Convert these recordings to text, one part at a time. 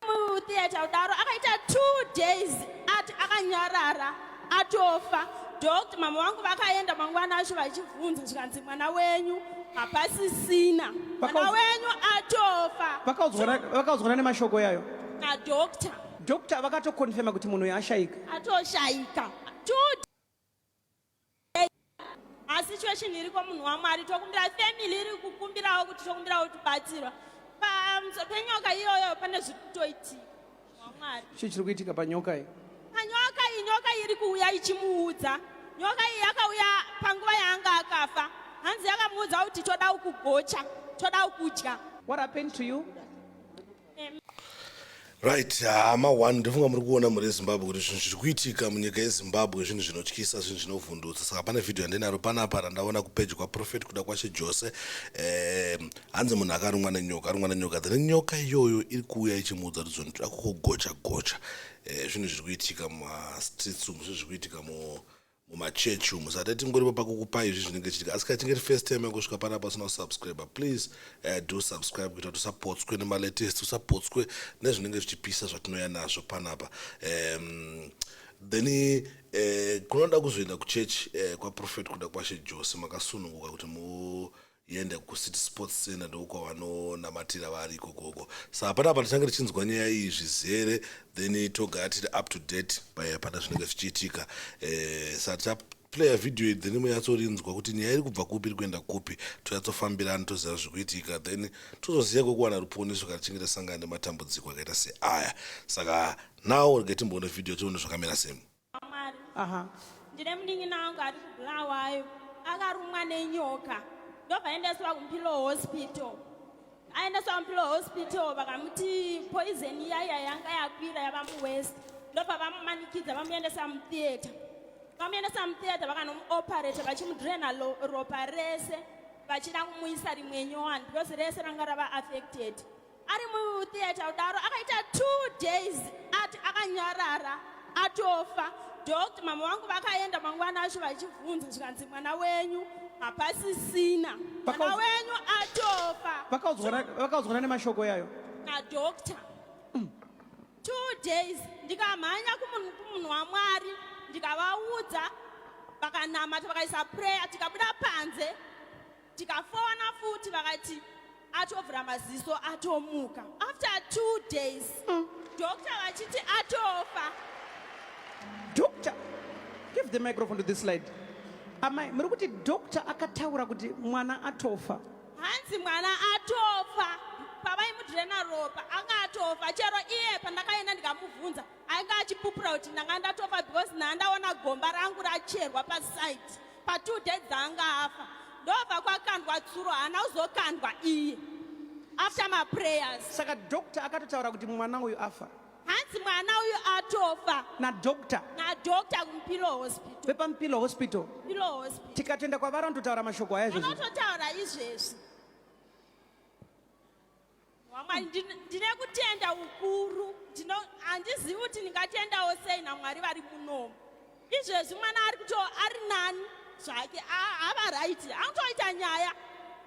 mutheatre kudaro akaita two days ati akanyarara atofa doctor mama vangu vakaenda mangwana acho vachibvunza zvikanzi mwana wenyu hapasisina mwana wenyu atofa vakaudzwana nemashoko yayo nadoctor doctor vakatokonfirma kuti munhu uyo ashaika atoshayika masituation iri kwamunhu wamwari tokumbira family iri kukumbirawo kuti tokumbirawo tibatsirwa pamusoro penyoka iyoyo pane zviri kutoitika wamwari chii chiri kuitika panyoka iyi panyoka iyi nyoka iri kuuya ichimuudza nyoka iyi yakauya panguva yaanga akafa hanzi yakamuudza kuti toda ukugocha toda ukudya what happened to you right hama uh, one ndofunga muri kuona mhuri yezimbabwe kuti zvinhu zviri kuitika munyika yezimbabwe zvinhu zvinotyisa zvinhu zvinovhundutsa saka pane vhidhiyo yandinaro panapa randaona kupeji kwaprofet kuda kwashe jose eh, hanzi munhu akarumwa nenyoka arumwa nenyoka then nyoka iyoyo iri kuuya ichimuudza kuti zvinhu zviri kukugocha gocha eh, zvinhu zviri kuitika mumastreets umu zvinhu zviri kuitika mu mumachechi umu saka tatingoripo pakukupa izvi zvinenge chitika asi kachinge ri first time yakusvika panapa usina kusubscribe please uh, do subscribe kuita kuti usapotswe nemalatest usapotswe nezvinenge zvichipisa zvatinouya nazvo panapa um, then uh, kunoda kuzoenda kuchechi uh, eh, kwaprofet kuda kwashe jose makasununguka kuti mu uh, yenda kuCity Sports Centre ndokwavanonamatira vari ikokoko saa panapa tichange tichinzwa nyaya iyi zvizere then togara tiri up to date paya pana zvinenge zvichiitika eh, saa tichaplaya video iyi then munyatsorinzwa kuti nyaya iri kubva kupi iri kuenda kupi tonyatsofambirana toziva zviri kuitika then tozoziva kwekuwana ruponiso kana tichinge tasangana nematambudziko akaita seaya saka now rega timboona video tione zvakamira semu Mwari. Aha. Ndine munin'ina wangu ari kuBulawayo akarumwa nenyoka ndobva aendeswa kuMpilo Hospital. Aendeswa kuMpilo Hospital vakamuti poison iyaya yanga yakwira yava muWest ndobva vamumanikidza vamuendesa mutheatre. Vamuendesa mutheatre vakanomuoperate vachimudraina lo- ropa rese vachida kumuisa rimwe nyowani because rese ranga rava affected. ari mutheatre kudaro akaita two days ati akanyarara atofa doctor mama vangu vakaenda mangwana acho vachibvunza zvikanzi mwana wenyu hapasisina mwana wenyu atofa vakaudzwana nemashoko yayo nadoctor mm. two days ndikamhanya kumunhu wamwari ndikavaudza vakanamata vakaisa prayer tikabuda panze tikafowana futi vakati atovhura maziso atomuka after two days mm. doctor vachiti atofa doctor give the microphone to this slide amai muri kuti doctor akataura kuti mwana atofa hanzi mwana atofa pavaimudhirena ropa anga atofa chero iye pandakaenda ndikamubvunza ainge achipupura kuti ndanga ndatofa because ndandaona gomba rangu racherwa pasite pa two days dzaanga afa ndobva kwakandwa tsuro haana kuzokandwa iye after maprayers saka doctor akatotaura kuti mwana uyu afa hanzi mwana uyu atofa nadoctor nadoctor kumpilo hospital vepampilo hospital pilo hospital tikatoenda kwavari vanototaura mashoko aya izvozvo anototaura izvezvi Mwari, ndin- ndine kutenda ukuru Ndino- handizivi kuti ndingatendawo sei namwari vari munomu izvezvi mwana ari kuto ari nani zvake a- ava raiti anotoita nyaya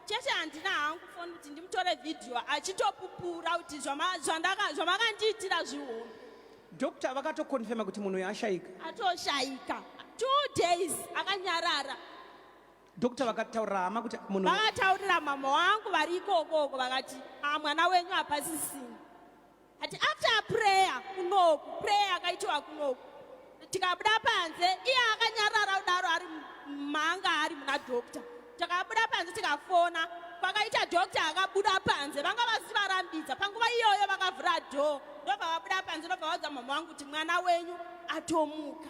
chete handina hangu foni kuti ndimutore vhidhiyo achitopupura kuti zvama- zvandaka- zvamakandiitira zvihombe doctor vakatokonfema kuti munhu uyu ashaika atoshayika two days akanyarara Doctor vakataurira hama kuti munhu vakataurira mama wangu vari ikokoko vakati ah, mwana wenyu hapasisini ati after prayer kunoku prayer akaitiwa kunoku tikabuda panze iye akanyarara kudaro ari manga ari muna doctor takabuda panze tikafona kwakaita doctor akabuda panze vanga vasi varambidza panguva iyoyo vakavhura dho ndobva vabuda panze ndobva vaudza mama wangu kuti mwana wenyu atomuka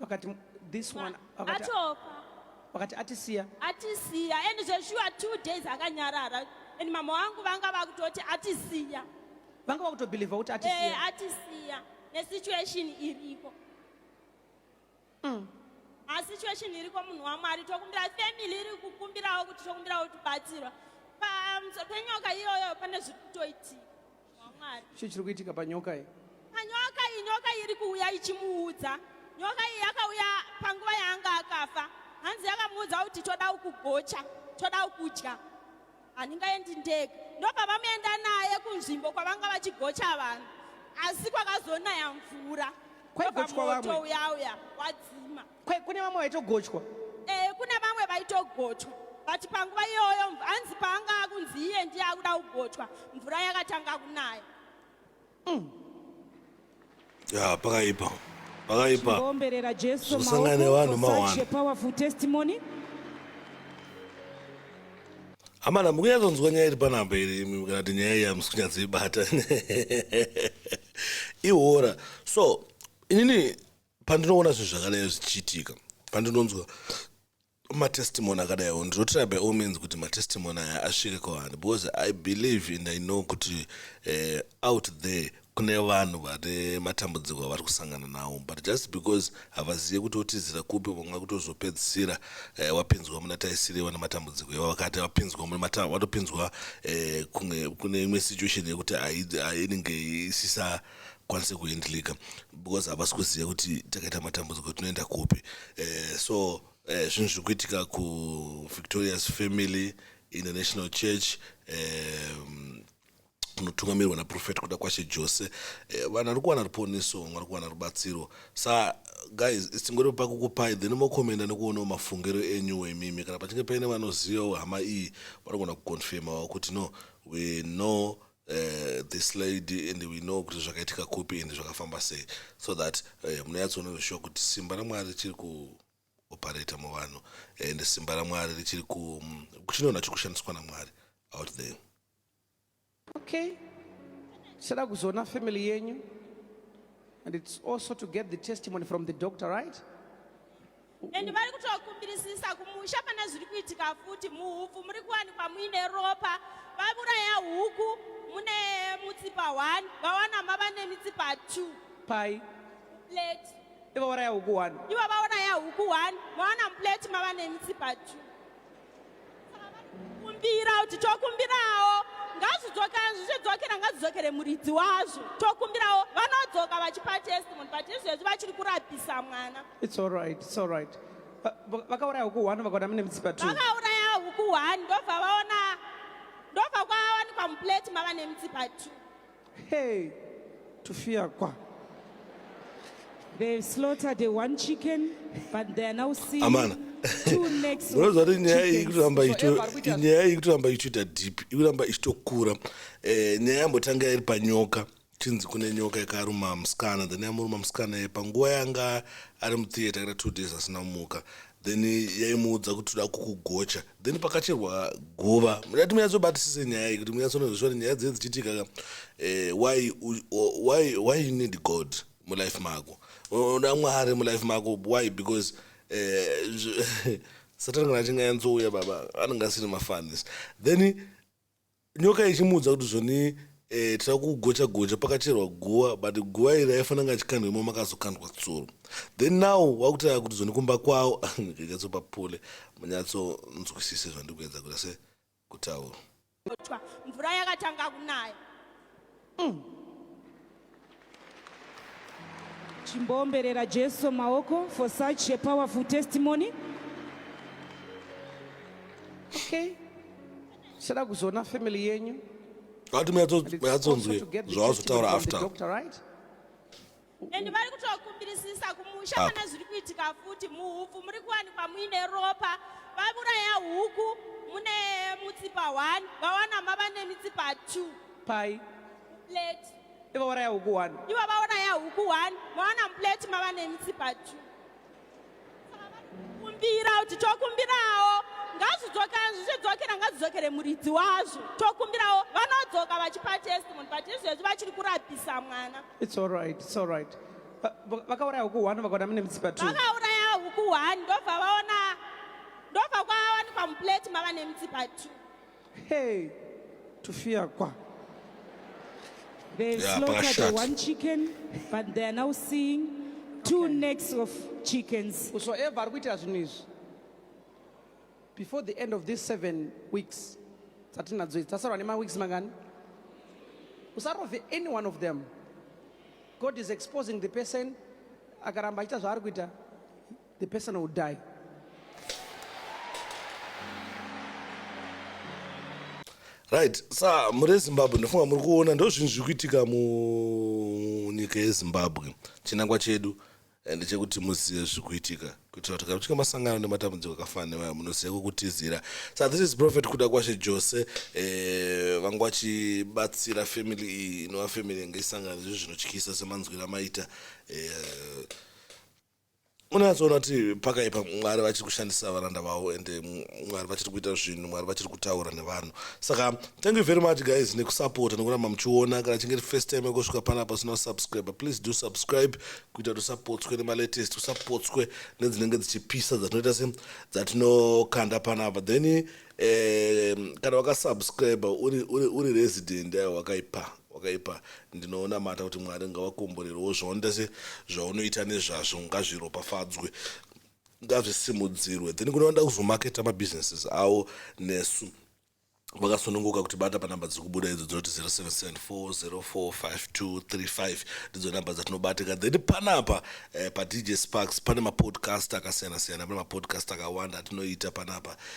vakati this one vakati atoka vakati atisiya atisiya and zveshuwa two days akanyarara and mama wangu vanga vakutoti atisiya vanga vakutobhilivha kuti atisiya eh, atisiya nesituation iriko mm. asituation iriko munhu wamwari tokumbira family iri kukumbirawo kuti tokumbirawo tibatsirwa panyoka iyoyo pane zviri kutoitika wamwari chii chiri kuitika panyoka iyi panyoka iyi nyoka iri kuuya ichimuudza nyoka iyi yakauya panguva yaanga akafa hanzi yakamuudza kuti toda kugocha toda kudya handingaendi ndega ndopavamuenda naye kunzvimbo kwavanga vachigocha vanhu asi kwakazonaya mvura kwaigotwa vamwe uyauya wadzima Kwe, kune vamwe vaitogochwa Eh, kune vamwe vaitogochwa but panguva iyoyo mv- hanzi paanga akunzi iye ndiye akuda kugochwa mvura yakatanga kunaya ya pakaipa pakaipa Omberera Jesu Zosangana maoko nevanhu for such mahwanda. a powerful testimony. amana mukunyatsonzwa nyaya iri panapa iri imi kana kuti nyaya iyi hamusi kunyatsoibata ihora so inini pandinoona zvinhu zvakadai zvichiitika pandinonzwa matestimony akadaiwo ndinotry by all means kuti matestimony aya asvike kwaani because i believe and i know kuti uh, out there kune vanhu vane matambudziko avari kusangana nawo but just because havazive kuti otizira kupi vamwe kutozopedzisira eh, wapinzwa muna taisiriwa nematambudziko iwa vakati wapinzwa watopinzwa eh, kune imwe situation yekuti inenge isisa kwanise kuhandlika because havasi kuziva kuti takaita matambudziko tinoenda kupi eh, so eh, zvinhu zviri kuitika kuvictorious family international church eh, kunotungamirwa naprofet kuda kwashe jose eh, vanhu ari kuwana ruponiso vamwe ari kuwana rubatsiro sa guys tingori pakukupai then mokomenda nekuonawo mafungiro enyu wemimi kana pachinge paine vanozivawo hama iyi vanogona kuconfirmawo kuti no we know uh, this lady and we know kuti zvakaitika kupi and zvakafamba sei so that uh, eh, munonyatsoona zvishuwa kuti simba ramwari richiri kuoparata muvanhu and simba ramwari richiri mm, kuchinoona chiri kushandiswa namwari out there okay sada kuzoona family yenyu and it's also to get the testimony from the doctor right and vari kutokumbirisisa kumusha pana zviri kuitika futi muhupfu muri kuwanikwa muine ropa vauraya huku mune mutsipa 1 vawana mava nemitsipa 2 pai plate ivo vauraya huku 1 ivo vauraya huku 1 vawana muplate mava nemitsipa 2 kumbira kuti tokumbirawo ngazvidzoka zvichidzokera ngazvidzokere muridzi wazvo tokumbirawo vanodzoka vachipa testimony but izvezvi vachiri kurapisa mwana its alright its alright vakauraya huku one vakaona mune mitsipa two vakauraya huku one ndobva vaona ndobva kwavawanikwa muplate mava nemitsipa two Hey, Tufia kwa. They slaughtered a one chicken, but they are now seeing Amana. two necks of unoziva kuti nyaya iyi chickens. ikuramba ichito- Forever, kuita- nyaya iyi ikuramba ichitoita deep ikuramba ichitokura Eh, nyaya yambotanga iri panyoka chinzi kune nyoka yakaruma musikana then yamuruma musikana ye panguva yanga ari mutheatre kana two days asina kumuka then yaimuudza kuti toda kukugocha then pakacherwa guva mudati munyatsobatisise nyaya iyi kuti munyatsonozviswa kuti nyaya dziye dzichiitika ka eh, why, why, why you need god mulife mako unoda mwari mulife mako why because eh, satani kana achinge anzouya baba anenge asiri mafanis then Nyoka ichimuudza kuti zvoni eh, tira kugocha gocha pakacherwa guva but guva iri aifana nga achikandwa imo makazokandwa tsuro then now wakutaura kuti zvoni kumba kwawo nyatsopa pule munyatsonzwisise zvandikuedza kuita se kutaura mvura yakatanga kunaya Mm. Chimboomberera Jesu maoko for such a powerful testimony. Okay. Sada kuzoona family yenyu. Vati muyatsonzwe zvavazotaura after. Doctor, right? and vari kutokumbirisisa kumusha ah. kana zviri kuitika futi muhupfu muri kuwanikwa muine ropa vauraya huku mune mutsipa 1 vawana mava nemitsipa 2 pai plate ivo vauraya huku 1 ivo vauraya huku 1 vawana plate mava nemitsipa 2 kumbira kuti tokumbirawo ngazvidzokera ngazidzokere muridzi wazvo tokumbirawo vanodzoka vachipa testimony but izvezvi vachiri kurapisa mwana its alright its alright vakauraya huku one vakaona mune mitsipa two vakauraya huku one ndobva vaona ndobva kwavawanikwa muplate mava nemitsipa two Hey, Tufia Kwa. They yeah, slaughtered the one chicken, but they are now seeing two okay. necks of chickens. Whosoever are kuitira zvinhu izvi before the end of these seven weeks dzatinadzo idzi tasarwa nemaweeks mangani usarove any one of them god is exposing the person akaramba achiita zvaari kuita the person will die. right sa muri ezimbabwe ndofunga muri kuona ndozvinhu zviri kuitika munyika yezimbabwe chinangwa chedu and chekuti muzive zviri kuitika kuitira kuti kakutika masangano nematambudziko akafana nevaya munoziva kwekutizira sa this is prophet kuda kwashe jose eh, vanga vachibatsira family iyi inova family yanga isangana zvezvinotyisa semanzwira maita eh, unatsoona kuti pakaipa mwari vachiri kushandisa varanda vavo and mwari vachiri kuita zvinhu mwari vachiri kutaura nevanhu saka thank you very much guys nekusapota nekuramba muchiona kana chinge first time yekusvika panapa sina kusubscribe please do subscribe kuita kuti usapotswe nemalatest usapotswe nedzinenge dzichipisa dzatinoita se dzatinokanda panapa then eh, kana wakasubscribe uri, uri, uri resident ayo wakaipa wakaipa ndinonamata kuti mwari ngavakomborerewo zvaonda zvaunoita nezvazvo ngazviropafadzwe ngazvisimudzirwe then kune vanoda kuzomaketa mabusinesses avo nesu vakasununguka kuti bata panhamba dziri kubuda idzo dzinoti 0774045235 ndidzo nhamba dzatinobatika then panapa eh, padj sparks pane mapodcast akasiyana siyana pane mapodcast akawanda atinoita panapa